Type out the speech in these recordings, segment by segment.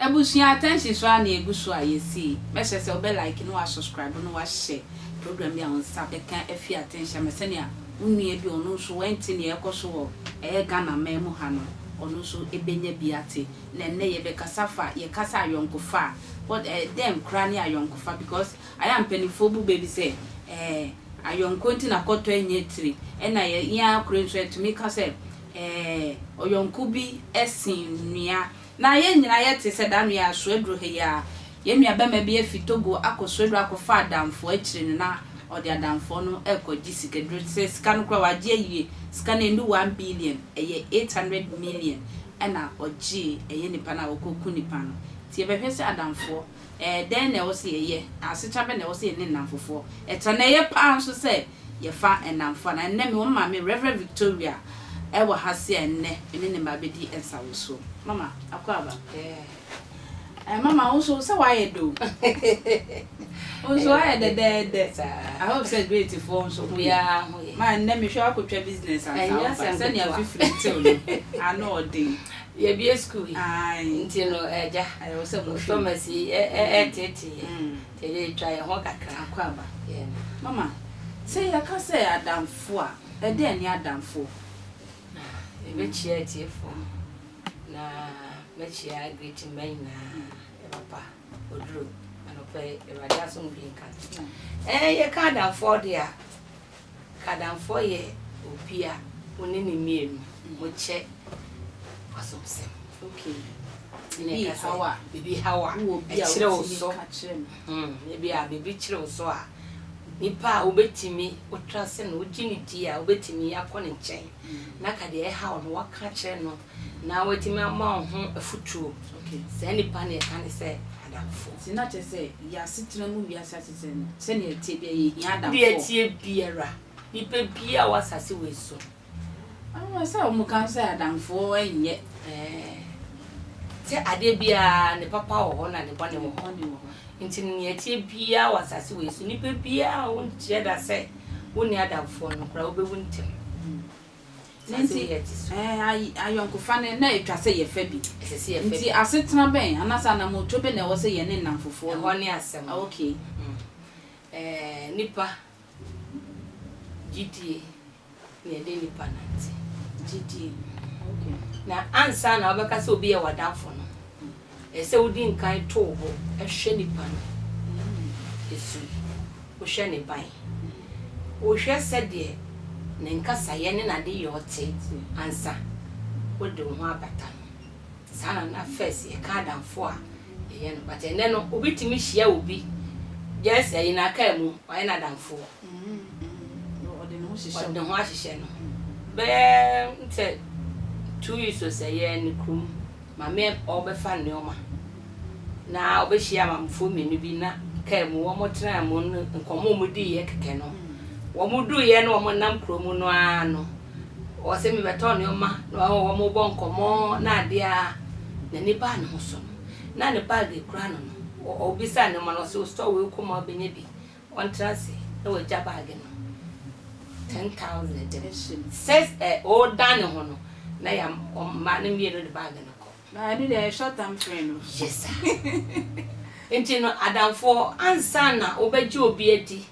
Ebusua attention so a na egu so a yɛsii. Mɛhyɛ sɛ wobɛ like na wa subscribe na wahyɛ program bi a wo nsa bɛka afi attention ma sɛnea wo nua bi ɔno nso wɛnte nea ɛkɔ so wɔ ɛyɛ Ghana man mu ha no ɔno nso ebenya bi ate. na nnɛ yɛbɛkasa fa yɛ kasa ayɔnkofa a, what eh, dɛn koraa ne ayɔnkofa because ayɛ a mpaninfoɔ bu bɛ bi sɛ eh, ayɔnko nti na kɔtɔ nyɛ tiri, ɛna yɛ yɛn ara koro nso yɛtumi ka sɛ eh, ɔyɔnko bi sen nua. Na yɛn nyinaa yɛte sɛ daa no yɛ asoaduro ha yi a, yɛn nua bɛma bi afi Togo akɔ soaduro akɔfa adamfoɔ akyire no na ɔde adamfoɔ no ɛkɔ gye sikaduro sɛ sika no koraa wagye awie, sika no ɛndu one billion, ɛyɛ eight hundred million na ɔgyee ɛyɛ nipa no a ɔkɔ ku nipa no. Nti yɛbɛhwɛ sɛ adamfoɔ, ɛɛ dɛn na ɛwɔ sɛ yɛyɛ, asetra bɛn na ɛwɔ sɛ yɛne nnamfofoɔ tra, na ɛyɛ paa nso sɛ yɛfa nnamfo anaa. Ɛnnɛ mewɔ me maame Rev. Victoria ɛwɔ ha se a ɛnnɛ me ne ne mma bɛdi nsawosoɔ. Mama, Akwaaba. Ɛɛ. Eh mama wo nso sɛ wayɛ do. Wo nso wayɛ dɛdɛɛdɛ. I hope sɛ great foɔ nso ho yɛ. Ma nnɛ mehwɛ wakɔtwa business ansa woba sɛnea fifiri ntew no ano ɔden. Yɛbie school yi nti no agya pharmacy ɛteetee nti ɛde twa yɛn ho kakra. Akwaaba. Mama sɛ yɛka sɛ adamfo a ɛdɛn ne adamfo? Yɛbɛkyia atiefoɔ. Na mɛkyea Greeting mma nyinaa yɛ papa oduro anɔpa yi awurade asomdwe nka ɛɛ yɛ ka adamfoɔ de a kadamfoɔ yɛ obi a wɔne ne mmienu mokyɛ asomsɛm okay bibi hawa bibi hawa ɛkyerɛ wo so ebi a bibi kyerɛ wo so a nipa a wobɛtumi wotra sɛ no wogye ne di a wobɛtumi akɔ ne nkyɛn na ka deɛ ɛhaw no woaka akyerɛ no na watumi ama wo ho afutuo. Saa nnipa no yɛka no sɛ adamfo. Nti na kyerɛ sɛ yɛ asetena mu wiase asetena mu sɛnea ɛteɛ bia yɛhia adamfo. Deɛ ɛteɛ biara nipa biara wɔ asase wei so. Ɛwɔ sɛ wɔn kan sɛ adamfo ɛnyɛ. Sɛ adeɛ biara ne papa wɔ hɔ na ne bɔne wɔ hɔ. Nti deɛ ɛteɛ biara wɔ asase wei so nipa biara ɔnkyerɛ da sɛ. wonni adamfoɔ no koraa wobɛwu ntɛm. Ne nti, ayɔnkofa no na ɛtwa sɛ yɛfa bi. Nti asetena bɛn anaasɛ anamoto bɛ na ɛwɔ sɛ yɛne nnamfofoɔ no. Ɛhɔ ne asɛm. Ah, okay. Mm. Eh, nipa gyidie na ɛde nipa nante. Gyidie. Okay. Na ansa na wobɛka sɛ obi yɛ w'adamfo no, Ɛsɛ sɛ wudi nkan to wo bo hwɛ nipa no su, wohwɛ ne ban, wohwɛ sɛdeɛ ne nkasayɛ ne n'adeyɔ te ansa wode wo ho abata no. Saa na na first yɛka adamfo a yɛyɛ no but ɛnnɛ no obi tumi hyia obi just ayi no akaa mu wayɛ no adamfoɔ. Ɔde ne ho hyehyɛ wo. Ɔde ne ho ahyehyɛ no. Bɛyɛ sɛ two weeks o sɛ yɛn kurom Maame ɔrebɛfa nnoɔma na ɔbɛhyia maamefoɔ mmienu bi na kaa mu wɔn tenaa mu no nkɔmɔ wɔn diiɛ kɛkɛ no wɔn duiɛ no wɔn nam kuro mu no ara no ɔsɛ mi bɛtɔ nnoɔma na wɔn bɔ nkɔmɔ na adeɛ a na nipa ne ho so no na ne baage kura no no ɔbisa nnoɔma no ɔsɛ ɔsɔ wei kɔma ɔbɛnya bi Ɔntra ase na wagya baage no ten thousand shillings. Sɛ ɛ ɔredan ne ho no na yɛ mmaa no mmienu de baage no kɔ. Na ɛno deɛ ɛyɛ short term friend no. Yes sir. Nti no adamfoɔ ansa na wobɛgye obi adi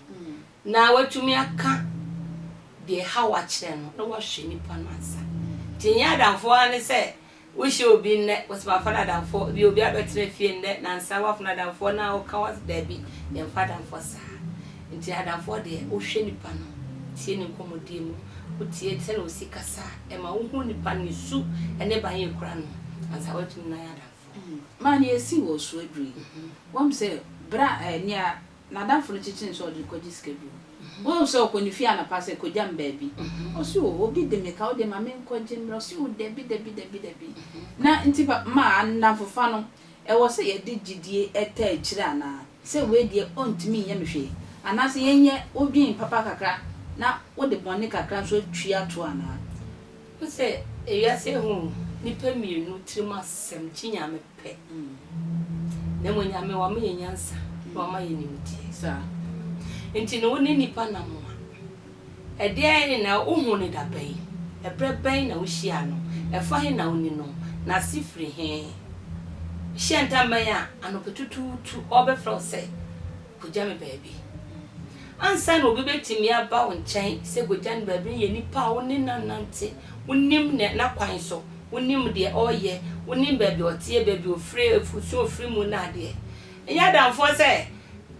na watumi aka deɛ ɛha wo akyerɛ no na wahwɛ nipa no ansa. Nti ɛnyɛ adamfoɔ ara ne sɛ Wohyia obi nnɛ, wose mafa no adamfoɔ, ebia obi abɛtena fie nnɛ, nansa woafa no adamfoɔ na ɔka wo as daabi, yɛmfa adamfoɔ saa. Nti adamfoɔ deɛ, wohwɛ nipa no, tie ne nkɔmmɔdie mu, wotie sɛdeɛ ɔsi kasa, ɛma wohu nipa no, ne su ne ban a ɛkura no, ansa woatumi ne no ayɛ adamfoɔ. Maa nea asi wɔ so aduru yi, woahu sɛ berɛ a nea N'adamfo no kyekyee no sɛ ɔde no kɔgye sika bi mu. Wohu sɛ ɔkɔ ne fie anɔpa sɛ, Kogya me baabi. Ɔse, O, obi de me ka wo de ma menkɔgye mmra. Ɔse, O, dabi, dabi, dabi, dabi. Na nti ba, maa, nnamfofa no, ɛwɔ sɛ yɛde gyedie taa akyire anaa? Sɛ wei deɛ ɔntumi nyɛ me hwee? Anaasɛ yɛnyɛ wodwen papa kakra na wode bɔne kakra nso atua toɔ anaa? Wohu sɛ ewiase ahu nnipa mmienu tirim asɛm, kyi Nyame. pɛ, na mmom Nyame wama yɛn nyansa na wama yɛn nimdeɛ, saa nti no wo ne nnipa nam a, ɛdeɛn na wohuu no da bɛn, ɛberɛ bɛn na wohyiaa no, ɛfa he na woni no, n'ase firi he? Hyɛ ntam bɛn a anɔpatutuutu ɔrebɛfrɛ wo sɛ Kogya me baabi. Ansa na obi betumi aba wo nkyɛn sɛ kogya no baabi no yɛ nipa a wo ne no anante, wunim n'akwan so, wunim deɛ ɔreyɛ, wunim baabi a ɔteɛ, baabi a ofiri, afurusua a ofiri mu ne adeɛ. Ɛnyɛ adamfoɔ sɛ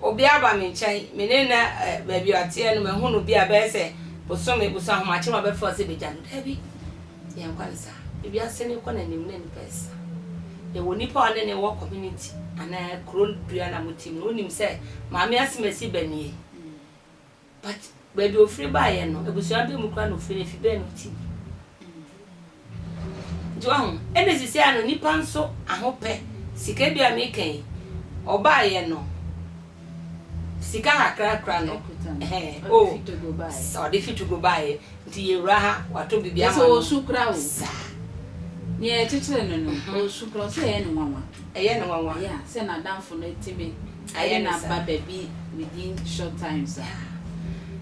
obi aba me nkyɛn, me ne no ɛ, baabi a ɔteɛ no mahu no bi a ɛbɛyɛ sɛ bosome, boso ahomakye mu abɛfrɛ wo sɛ begya no. Dabi. Yɛn nkwa ne saa. Wiase no rekɔ n'anim na nnipa resesa. Yɛwɔ nipa a ɔne ne wɔ community anaa kuro dua na mo team no wonim sɛ maame asemasi ba nie but baabi ofiri baeɛ no abusua bɛ mu koraa na ofiri no efi bɛn na ɔte bi nti wahu ɛna sisi ano nipa nso ahopɛ sika bi a meka yi ɔbaeɛ no Sika kakra kura no ɔde fi Togo baeɛ nti yɛwura ha wato biribi ama no. Ɔsu kura o. Saa. Nea ɛkyekyere no no ɔsu kura sɛ ɛyɛ ne nwanwa. Ɛyɛ ne nwanwa. Yeah, sɛ n'adamfo no tumi ayɛ no aba baabi within short time sa.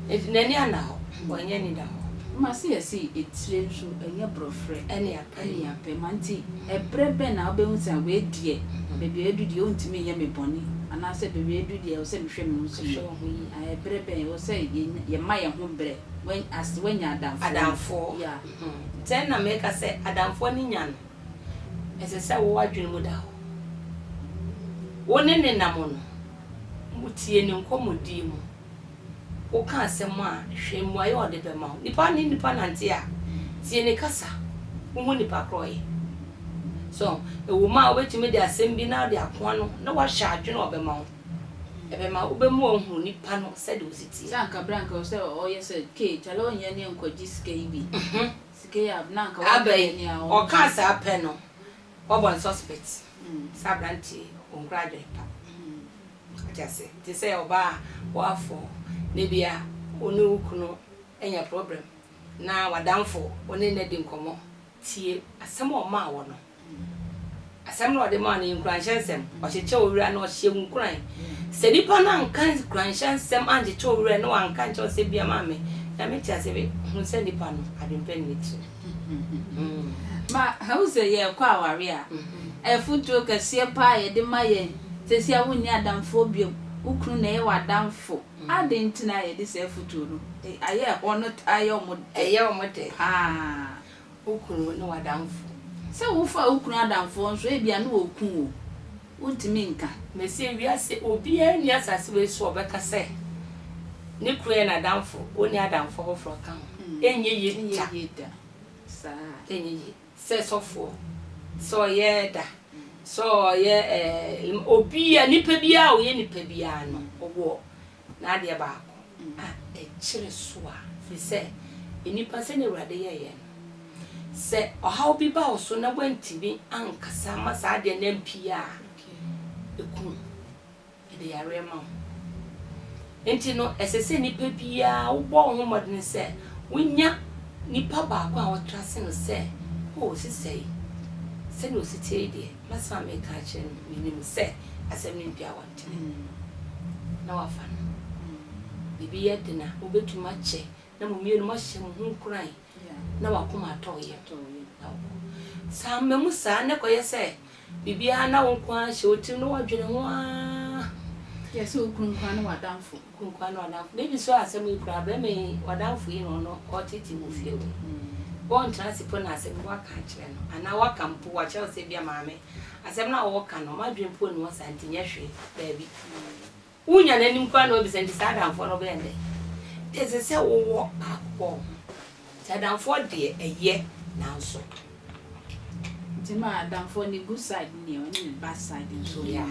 Nti n'ani ana hɔ. Wɔnyɛ ni da hɔ. Mma se yɛsi etire nso ɛnyɛ borɔfrɛ. Ɛnea. Ɛne yɛn apɛ ma nti ɛberɛ bɛn na wobɛhu sɛ wei deɛ baabi a adu deɛ ɔntumi nyɛ me bɔne anaasɛ baabi a adu deɛ ɛwɔ sɛ mehwɛ me ho so yie? Ɛberɛ bɛn ɛwɔ sɛ yɛma yɛn ho berɛ as woanya adamfoɔ no? Adamfoɔ, Sɛ na meka sɛ adamfoɔ no nya no, ɛsɛ sɛ wo adwene mu da hɔ. Wo ne no nam no, motie no nkɔmmɔdie mu. Woka asɛm a, hwɛ mmuaeɛ a ɔde bɛma wo. Nnipa ne nnipa nante a, tie ne kasa. Wo mu nnipa korɔ yɛ. So, ɛwɔ mu a wobɛtumi de asɛm bi na wode ako ano na woahyɛ adwene a ɔbɛma wo. Ɛbɛma wobɛmu ahunu nnipa no sɛdeɛ ɔsi teɛ. Sɛ anka berɛ a anka sɛ ɔyɛ sɛ kee kyale ɔnyɛ ne nkɔgye sika yi bi. Sika yi a na anka wabɛyɛ nea ɔno nso. Aba yi, ɔkaa saa pɛ no, wabɔ no suspect sɛ aberanteɛ yi ɔnkura adwene pa. Ɔte ase te sɛ ɔbaa a wafow, na ebia wo ne wo kunu anya problem, na w'adamfo, wo ne no adi nkɔmmɔ. Tie asɛm a ɔmaa wo no. Asɛm no a ɔde maa no yɛ nkuranhyɛ nsɛm. Ɔkyekyɛ wo werɛ na ɔhyɛ wo nkuran. Sɛ nipa no anka nkuranhyɛ nsɛm ankyekyɛ wo werɛ na wanka ankyerɛ wo sɛ, Bia, Maame, Nyame te ase, hu sɛ nipa no, adwempa nni ne tirim. Ma hu sɛ yɛrekɔ aware a, afotuo kɛseɛ pa ara a yɛde ma yɛn, seesei a wonni adamfoɔ bio, wo kunu na ɛyɛ w'adamfo. Adɛn nti na yɛde saa afotuo no ayɛ ɛhɔ no taa yɛ wɔn dɛ? Ɛyɛ wɔn dɛ pa ara. Wo kunu ne w'adamfo. Sɛ wofaa wo kunu adamfoɔ nso a, ebia na ɔreku wo. wontumi nka. Meseɛ, wiase obiara nni asase wei so a ɔbɛka sɛ ne kunu yɛ n'adamfo, ɔnni adamfo foforɔ ka ho. Ɛnyɛ yie da. Ɛnyɛ yie da. Saa. Ɛnyɛ yie. Sɛ sɔfoɔ, sɛ ɔyɛ ɛda, sɛ ɔyɛ ɛɛ, obiara, nipa biara a ɔyɛ nipa biara no, ɔwɔ Na adeɛ baako a ɛkyere so a. Firi sɛ, nnipa, sɛdeɛ Awurade yɛɛ yɛn no, sɛ ɔhaw bi ba wo so na woantumi ankasa amma saa adeɛ no ampue a, ɛku wo. Ɛde yareɛ ma wo. Enti no, ɛsɛ sɛ nnipa biara wobɔ wo ho mmɔden sɛ wonya nipa baako a wotra ase no sɛ, O, sesayi, sɛdeɛ ɔsi teɛ yi deɛ, Mɛsan meka akyerɛ no, Minim sɛ asɛm no mpia wɔ ntɛm, na woafa no. Biribi yɛ den a, mubetumi akyɛ na mo mmienu moahyɛ mo ho nkuran na w'akoma atɔ wo yam na wokɔ. San mma mu saa na ɛkɔyɛ sɛ biribiara na wo nko ara hyɛ wo tirim na woadwene ho ara. Yɛ sɛ okunu nko ara ne w'adamfo. Kunkuwa no adamfo. Me bi suaa asɛm yi koraa, bɛrima yi ɔdamfo yi na ɔno ɔtete wɔ fie hɔ yi. Wɔntra ase mpo na asɛm bi wɔaka akyerɛ no, anaa wɔaka mpo, wɔakyerɛ wo sɛ bi a maame, asɛm no a wɔreka no, m'adwene mpo nni hɔ saa nti nyɛ hwee. Daabi. Wonya n'anim koraa na wabisa nti saa adamfoɔ no bɛyɛ no dɛn? Nti ɛsɛ sɛ wowɔ baako wɔ wo ho. Nti adamfoɔ deɛ ɛyɛ nanso. Nti ma adamfoɔ no good side ne ɔne ne bad side nso wɔ mu. Yeah.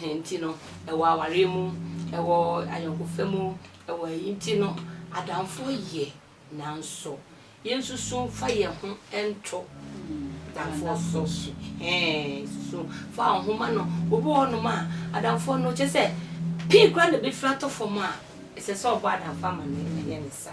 hɛn ntsi no, wɔ awaryɛ mu, wɔ anyɛnkofa mu, wɔ ayi ntsi no, adamfo yɛ naaso yensusu mfa hɛnho nto adamfo so, hɛn susu mfa hɔnho mma no, obi wɔ hɔnom a adamfo no kyerɛ sɛ pii koraa na befir atɔ famu a, sɛ sɛ ɔbɔ adamfo ama no a ɔyɛ ne saa.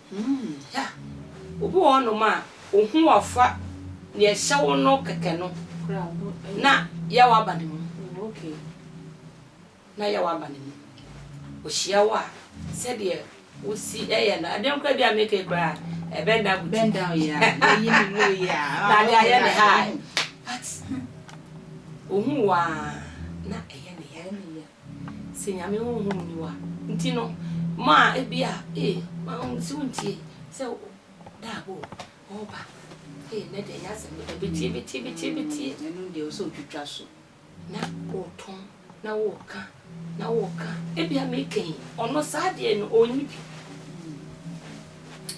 Hmm, hɛ a! Obi wɔ hɔnom a ohu ɔfa nea ɛhyɛ wo no kɛkɛ no na yaw aba ne mu. Na yaw aba ne mu. Ohyia wo a, sɛdeɛ wosi yɛ no, ɛdɛn koraa bi a meka yi koraa a, bend down boutique. Bend down, yeah. Yɛyi ne low yi a. Na ade ayɛ ne high. But, ohu wo a, na ɛyɛ ne ya. Sɛ Nyame honhom nni wo a. Nti no mo a ebia ee wahunu sɛ wontie sɛ da abo ɔɔba ee nɛ deɛ ɛnyɛ asɛm ketewa betie betie betie betie. Ɛno deɛ ɔsɛ otwitwa so. Na ɔɔtɔn na ɔɔka na ɔɔka ebia meka yi ɔno saa deɛ no ɔnni bi.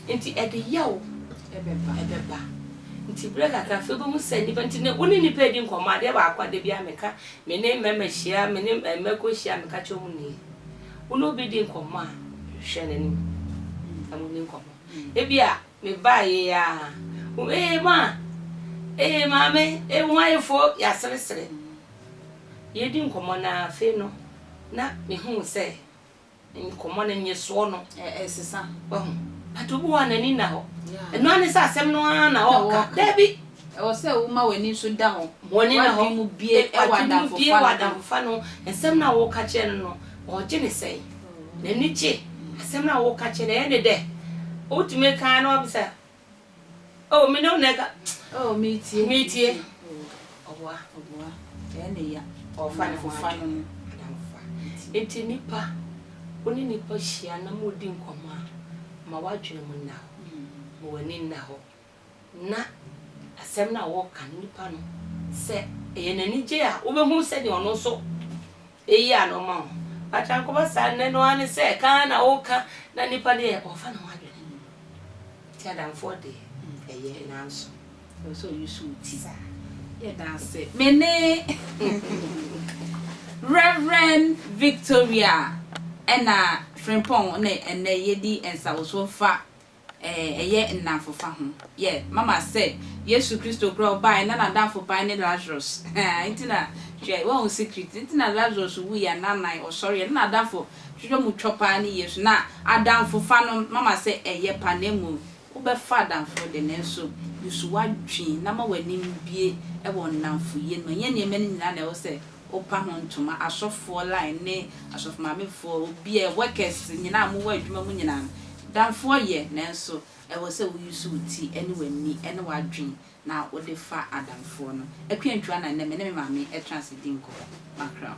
Nti ɛde yaw ɛbɛba. Nti berɛ kakra afei wobɛhu sɛ nnipa, nti ne wo ne nnipa redi nkɔmmɔ adeɛ baako a da biara meka, me ne mmarima hyia, me ne mmako hyia a meka kyerɛ wɔn nie. Wo ne obi di nkɔmmɔ a, hwɛ n'anim na monni nkɔmmɔ. Ebia me baa yei ara, wo ee ma, ee maame, ee wo ho ayɛ fo, yɛaseresere. Yɛredi nkɔmmɔ no ara, afei no na mehu sɛ. Ne nkɔmmɔ no nnyesoɔ no. Ɛresesa, wahu. But obi wɔ hɔ a n'ani nna hɔ. Ɛno ara ne sɛ asɛm no ara na ɔreka. Dabi! Ɛwɔ sɛ woma w'ani nso da hɔ. W'ani da hɔ. W'adwene mu bue wɔ adamfofa no ho. Nsɛm no a woreka kyerɛ no no, ɔregye no sɛn? N'ani gye asɛm no a woreka kyerɛ no, ɛyɛ no dɛ? Wotumi ka ara na wabisa, Oh, me ne wo na ɛka. Oh, metie. Metie. Ɔboa. Ɔboa. Ɛyɛ ne ya. Ɔfa ne ho fa no. Nti nipa, wo ne nipa hyia na mo di nkɔmɔ a, ma w'adwene mu nna hɔ. Ma w'ani nna hɔ. Na asɛm no a wɔka no, nipa no, sɛ ɛyɛ n'anigye a, wobɛhu sɛdeɛ ɔno nso Eyi a na ɔma wo atrankɔba saa nnɛ no ara ne sɛ kan na ɔreka na nnipa deɛ ɔmfa ne ho adwene no mu. Nti adamfoɔ deɛ ɛyɛ nanso ɛwɔ sɛ ɔyi so wo ti. Yɛda ase. Me ne Rev. Victoria ɛna Frimpong ne ɛnnɛ yɛdi nsawosoɔ fa Eh ɛyɛ nnamfofa ho yɛ mama sɛ Yesu Kristo koraa ɔbaeɛ na nadamfo ban ne Lazarus haa nti na hwɛ wahu secret nti na Lazarus wuiɛ anaanan ɔsɔreɛ na nadamfo hwehwɛ mu twɔ paa ne Yesu na adamfofa no mama sɛ ɛyɛ pa na mmom wobɛfa adamfoɔ de nanso usu wadwen na ma w'anim bue wɔ nnamfoyɛ no mu ɛnyɛ nneɛma no nyinaa na ɛwɔ sɛ Wopa ho ntoma, asɔfoɔ line ne asɔfomaamefoɔ, obiara, workers nyinaa a mowɔ adwuma mu nyinaa no, damfoɔ yɛ, nanso ɛwɔ sɛ wo use wo ti ne w'ani ne w'adwene na wode fa adamfoɔ no. Akua Ntwua na nnɛ me ne me maame ɛtena ase di nkɔmmɔ. Mackerel.